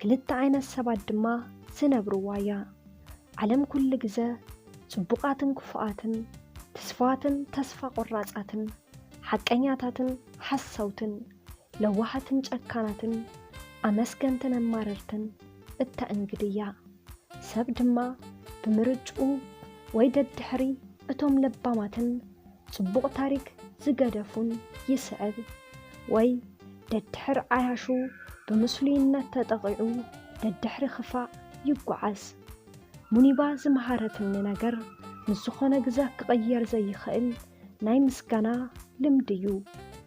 ክልተ ዓይነት ሰባት ድማ ዝነብርዋ እያ። ዓለም ኩሉ ግዘ ፅቡቓትን ክፉኣትን፣ ትስፉዋትን ተስፋ ቆራፃትን፣ ሓቀኛታትን ሓሰውትን፣ ለዋሃትን ጨካናትን፣ ኣመስገንትን ኣማረርትን እተእንግድ እያ። ሰብ ድማ ብምርጭኡ ወይ ደድሕሪ እቶም ለባማትን፣ ጽቡቕ ታሪክ ዝገደፉን ይስዕብ። ወይ ደድሕር ዓያሹ ብምስሉይነት ተጠቒዑ ደድሕሪ ክፋእ ይጓዓዝ። ሙኒባ ዝመሃረትኒ ነገር ምስ ዝኾነ ግዘ ክቕየር ዘይኽእል ናይ ምስጋና ልምዲ ዩ።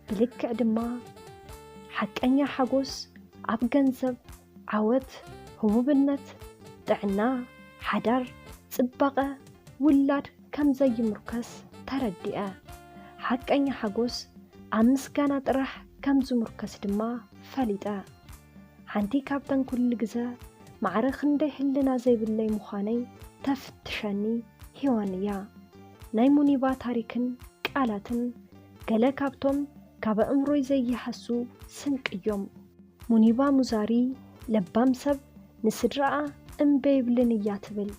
ብልክዕ ድማ ሓቀኛ ሓጎስ ኣብ ገንዘብ ዓወት፣ ህቡብነት፣ ጥዕና፣ ሓዳር፣ ጽባቐ ውላድ ከም ዘይምርኮስ ተረዲኣ። ሓቀኛ ሓጎስ ኣብ ምስጋና ጥራሕ ከም ዝምርኮስ ድማ ፈሊጠ። ሓንቲ ካብተን ኩሉ ግዘ ማዕረ ክንደይ ሕልና ዘይብለይ ምዃነይ ተፍትሸኒ ሄዋን እያ። ናይ ሙኒባ ታሪክን ቃላትን ገለ ካብቶም ካብ ኣእምሮይ ዘይሃሱ ስንቂ እዮም። ሙኒባ ሙዛሪ ለባም ሰብ ንስድራኣ እምበይ ይብልን እያ ትብል።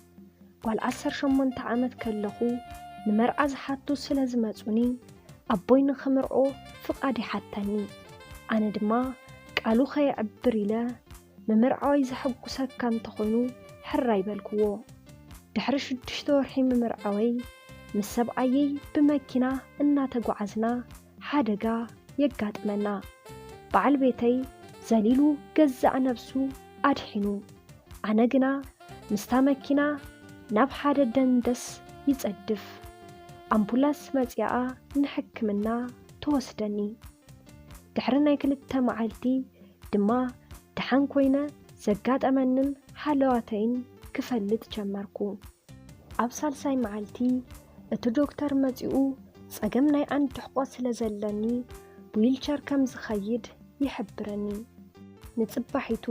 ጓል ዓሰርተ ሸሞንተ ዓመት ከለኹ ንመርዓ ዝሓቱ ስለ ዝመጹኒ ኣቦይ ንኽምርዖ ፍቓድ ይሓተኒ። ኣነ ድማ ቃሉ ከየዕብር ኢለ ምምርዓወይ ዘሐጉሰካ እንተኾይኑ ሕራይ በልክዎ። ድሕሪ ሽዱሽተ ወርሒ ምምርዓወይ ምስ ሰብኣየይ ብመኪና እናተጓዓዝና ሓደጋ የጋጥመና። በዓል ቤተይ ዘሊሉ ገዛእ ነብሱ ኣድሒኑ። ኣነ ግና ምስታ መኪና ናብ ሓደ ደንደስ ይጸድፍ። ኣምፑላስ መጺኣ ንሕክምና ትወስደኒ። ድሕሪ ናይ ክልተ መዓልቲ ድማ ደሓን ኮይነ ዘጋጠመንን ሃለዋተይን ክፈልጥ ጀመርኩ። ኣብ ሳልሳይ መዓልቲ እቲ ዶክተር መጺኡ ጸገም ናይ ኣንድሕቆ ስለ ዘለኒ ብዊልቸር ከም ዝኸይድ ይሕብረኒ። ንጽባሒቱ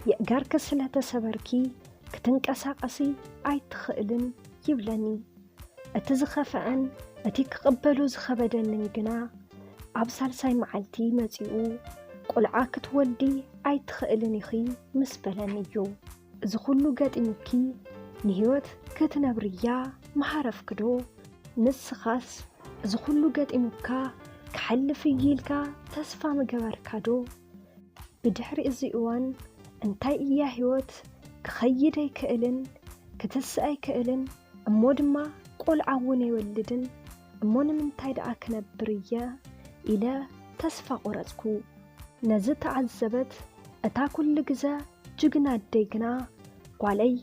የእጋርኪ ስለ ተሰበርኪ ክትንቀሳቐሲ ኣይትኽእልን ይብለኒ። እቲ ዝኸፍዐን እቲ ክቕበሎ ዝኸበደንን ግና ኣብ ሳልሳይ መዓልቲ መጺኡ ቈልዓ ክትወልዲ ኣይትኽእልን ኢኺ ምስ በለኒ እዩ። እዚ ኹሉ ገጢሙኪ ንህይወት ክትነብርያ ምሃረፍክዶ? ንስኻስ እዚ ኹሉ ገጢሙካ ክሓልፍ እዩ ኢልካ ተስፋ ምገበርካዶ? ብድሕሪ እዚ እዋን እንታይ እያ ህይወት? ክኸይድ ኣይክእልን፣ ክትስእ ኣይክእልን፣ እሞ ድማ ቆልዓ እውን ኣይወልድን፣ እሞ ንምንታይ ደኣ ክነብር እየ? ኢለ ተስፋ ቆረጽኩ። ነዚ ተዓዘበት እታ ኩሉ ግዘ ጅግና ኣደይ ግና፣ ጓለይ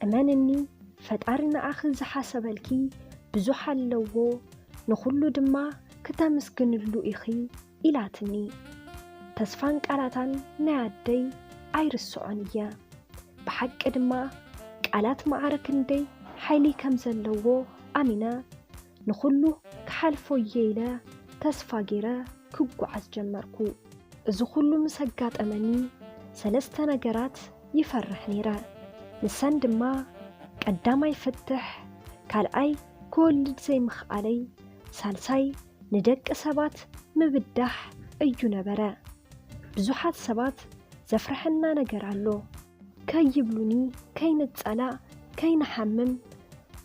እመንኒ ፈጣሪ ንዓኺ ዝሓሰበልኪ ብዙሕ ኣለዎ፣ ንኹሉ ድማ ክተምስግንሉ ኢኺ፣ ኢላትኒ ተስፋን ቃላታን ናይ ኣደይ ኣይርስዖን እየ ብሓቂ ድማ ቃላት ማዕረ ክንደይ ሓይሊ ከምዘለዎ ኣሚነ ንኹሉ ክሓልፎ እየ ኢለ ተስፋ ጌረ ክጓዓዝ ጀመርኩ እዚ ኩሉ ምስ ኣጋጠመኒ ሰለስተ ነገራት ይፈርሕ ኔረ ንሰን ድማ ቀዳማይ ፍትሕ ካልኣይ ክወልድ ዘይምኽኣለይ ሳልሳይ ንደቂ ሰባት ምብዳሕ እዩ ነበረ። ብዙሓት ሰባት ዘፍርሐና ነገር ኣሎ። ከይብሉኒ ከይንጸላእ ከይንሓምም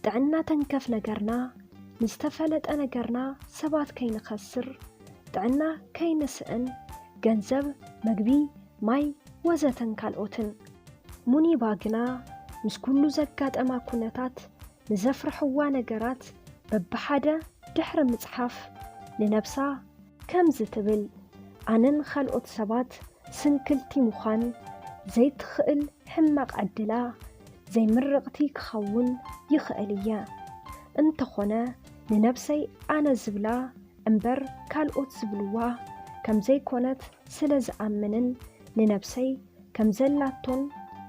ጥዕና ተንከፍ ነገርና ንዝተፈለጠ ነገርና ሰባት ከይንኸስር ጥዕና ከይንስእን ገንዘብ መግቢ ማይ ወዘተን ካልኦትን። ሙኒባ ግና ምስ ኩሉ ዘጋጠማ ኩነታት ንዘፍርሕዋ ነገራት በብሓደ ድሕሪ ምጽሓፍ ንነብሳ ከምዚ ትብል፣ ኣነን ኻልኦት ሰባት ስንክልቲ ምዃን ዘይትኽእል ሕማቕ ዕድላ ዘይምርቕቲ ክኸውን ይኽእል እየ። እንተዀነ ንነብሰይ ኣነ ዝብላ እምበር ካልኦት ዝብልዋ ከም ዘይኰነት ስለ ዝኣምንን ንነብሰይ ከም ዘላቶን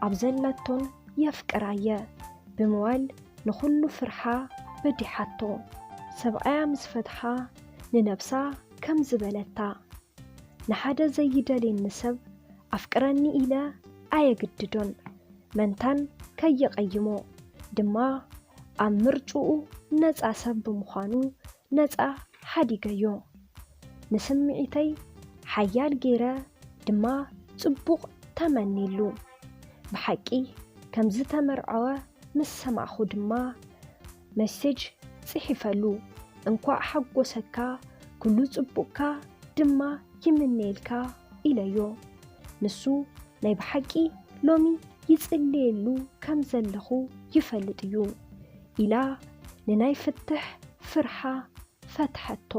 ኣብ ዘለቶን የፍቅራ እየ ብምባል ንኹሉ ፍርሓ በዲሓቶ። ሰብኣያ ምስ ፈትሓ ንነብሳ ከምዚ በለታ፣ ንሓደ ዘይደልየኒ ሰብ ኣፍቅረኒ ኢለ ኣየግድዶን፣ መንታን ከየቐይሞ ድማ ኣብ ምርጭኡ ነጻ ሰብ ብምዃኑ ነጻ ሓዲገዮ። ንስምዒተይ ሓያል ገይረ ድማ ጽቡቕ ተመኒሉ። ብሓቂ ከም ዝተመርዐወ ምስ ሰማዕኩ ድማ መሴጅ ጽሒፈሉ፣ እንኳዕ ሓጎሰካ፣ ኩሉ ጽቡቕካ ድማ ይምነየልካ ኢለዮ። ንሱ ናይ ብሓቂ ሎሚ ይጽልየሉ ከም ዘለኹ ይፈልጥ እዩ። ኢላ ንናይ ፍትሕ ፍርሓ ፈትሐቶ።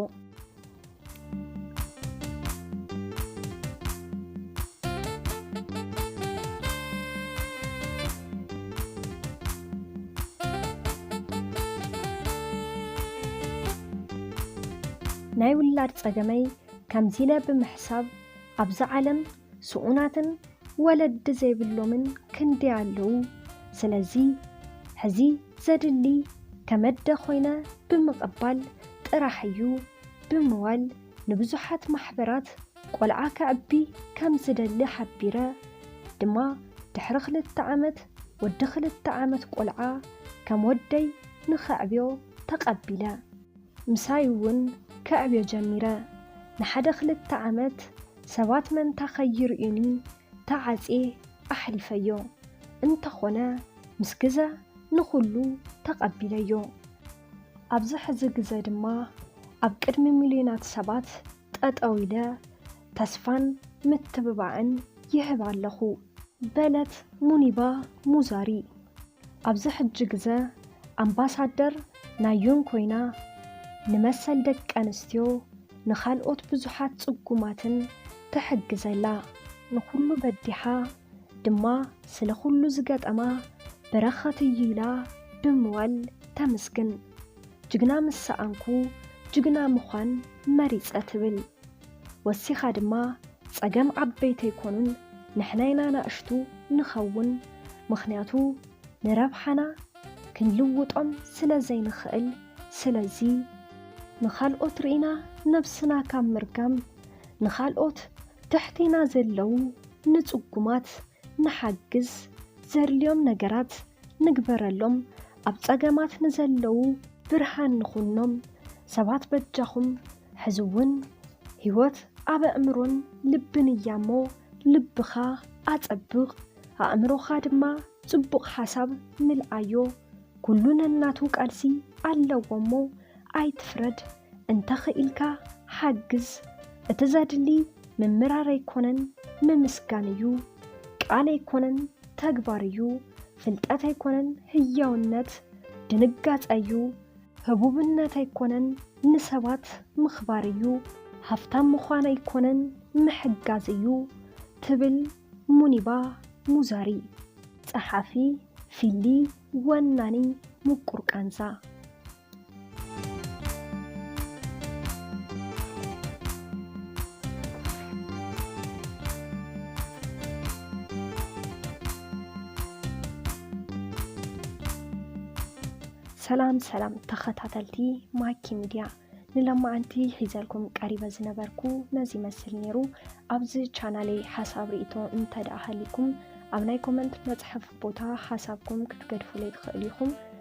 ናይ ውላድ ጸገመይ ከምዚለ ብምሕሳብ ኣብዛ ዓለም ስኡናትን ወለዲ ዘይብሎምን ክንደይ ኣለዉ። ስለዚ ሕዚ ዘድሊ ከመደ ኮይነ ብምቕባል ጥራሕ እዩ። ብምባል ንብዙሓት ማሕበራት ቆልዓ ከዕቢ ከም ዝደሊ ሓቢረ። ድማ ድሕሪ ክልተ ዓመት ወዲ ክልተ ዓመት ቆልዓ ከም ወደይ ንኸዕብዮ ተቐቢለ። ምሳይ እውን ከዕብዮ ጀሚረ። ንሓደ ክልተ ዓመት ሰባት መንታ ከይርእዩኒ ተዓጽየ ኣሕሊፈዮ። እንተኾነ ምስ ግዘ ንኹሉ ተቐቢለዮ። ኣብዚ ሕዚ ግዘ ድማ ኣብ ቅድሚ ሚልዮናት ሰባት ጠጠው ኢለ ተስፋን ምትብባዕን ይህብ ኣለኹ በለት ሙኒባ ሙዛሪ። ኣብዚ ሕጂ ግዘ ኣምባሳደር ናይ ዩን ኮይና ንመሰል ደቂ ኣንስትዮ ንካልኦት ብዙሓት ፅጉማትን ትሕግዝ ኣላ። ንኹሉ በዲሓ ድማ ስለ ኹሉ ዝገጠማ በረኸት እዩ ኢላ ብምባል ተምስግን። ጅግና ምስ ሰኣንኩ ጅግና ምዃን መሪጸ ትብል። ወሲኻ ድማ ጸገም ዓበይቲ ኣይኮኑን ንሕና ኢና ናእሽቱ ንኸውን ምኽንያቱ ንረብሓና ክንልውጦም ስለ ዘይንኽእል ስለዚ ንኻልኦት ርኢና ነብስና ካብ ምርጋም ንኻልኦት ትሕቴና ዘለዉ ንጽጉማት ንሓግዝ ዘድልዮም ነገራት ንግበረሎም ኣብ ጸገማት ንዘለዉ ብርሃን ንኹኖም ሰባት በጃኹም ሕዚ እውን ህይወት ኣብ ኣእምሮን ልብን እያ እሞ ልብኻ ኣጸብቕ ኣእምሮኻ ድማ ጽቡቕ ሓሳብ ምልኣዮ ኩሉ ነናቱ ቃልሲ ኣለዎ እሞ ኣይትፍረድ እንተኽኢልካ ሓግዝ። እቲ ዘድሊ ምምራር ኣይኮነን ምምስጋን እዩ። ቃል ኣይኮነን ተግባር እዩ። ፍልጠት ኣይኮነን ህያውነት ድንጋጸ እዩ። ህቡብነት ኣይኮነን ንሰባት ምኽባር እዩ። ሃፍታም ምዃን ኣይኮነን ምሕጋዝ እዩ ትብል ሙኒባ ሙዛሪ። ጸሓፊ፣ ፊሊ፣ ወናኒ፣ ምቁር ቃንዛ። ሰላም ሰላም ተኸታተልቲ ማኪ ሚድያ ንለማዓንቲ ሒዘልኩም ቀሪበ ዝነበርኩ ነዚ ይመስል ነይሩ ኣብዚ ቻናለይ ሓሳብ ርእቶ እንተ ደኣ ሃሊኩም ኣብ ናይ ኮመንት መፅሐፍ ቦታ ሓሳብኩም ክትገድፉለይ ትኽእሉ ኢኹም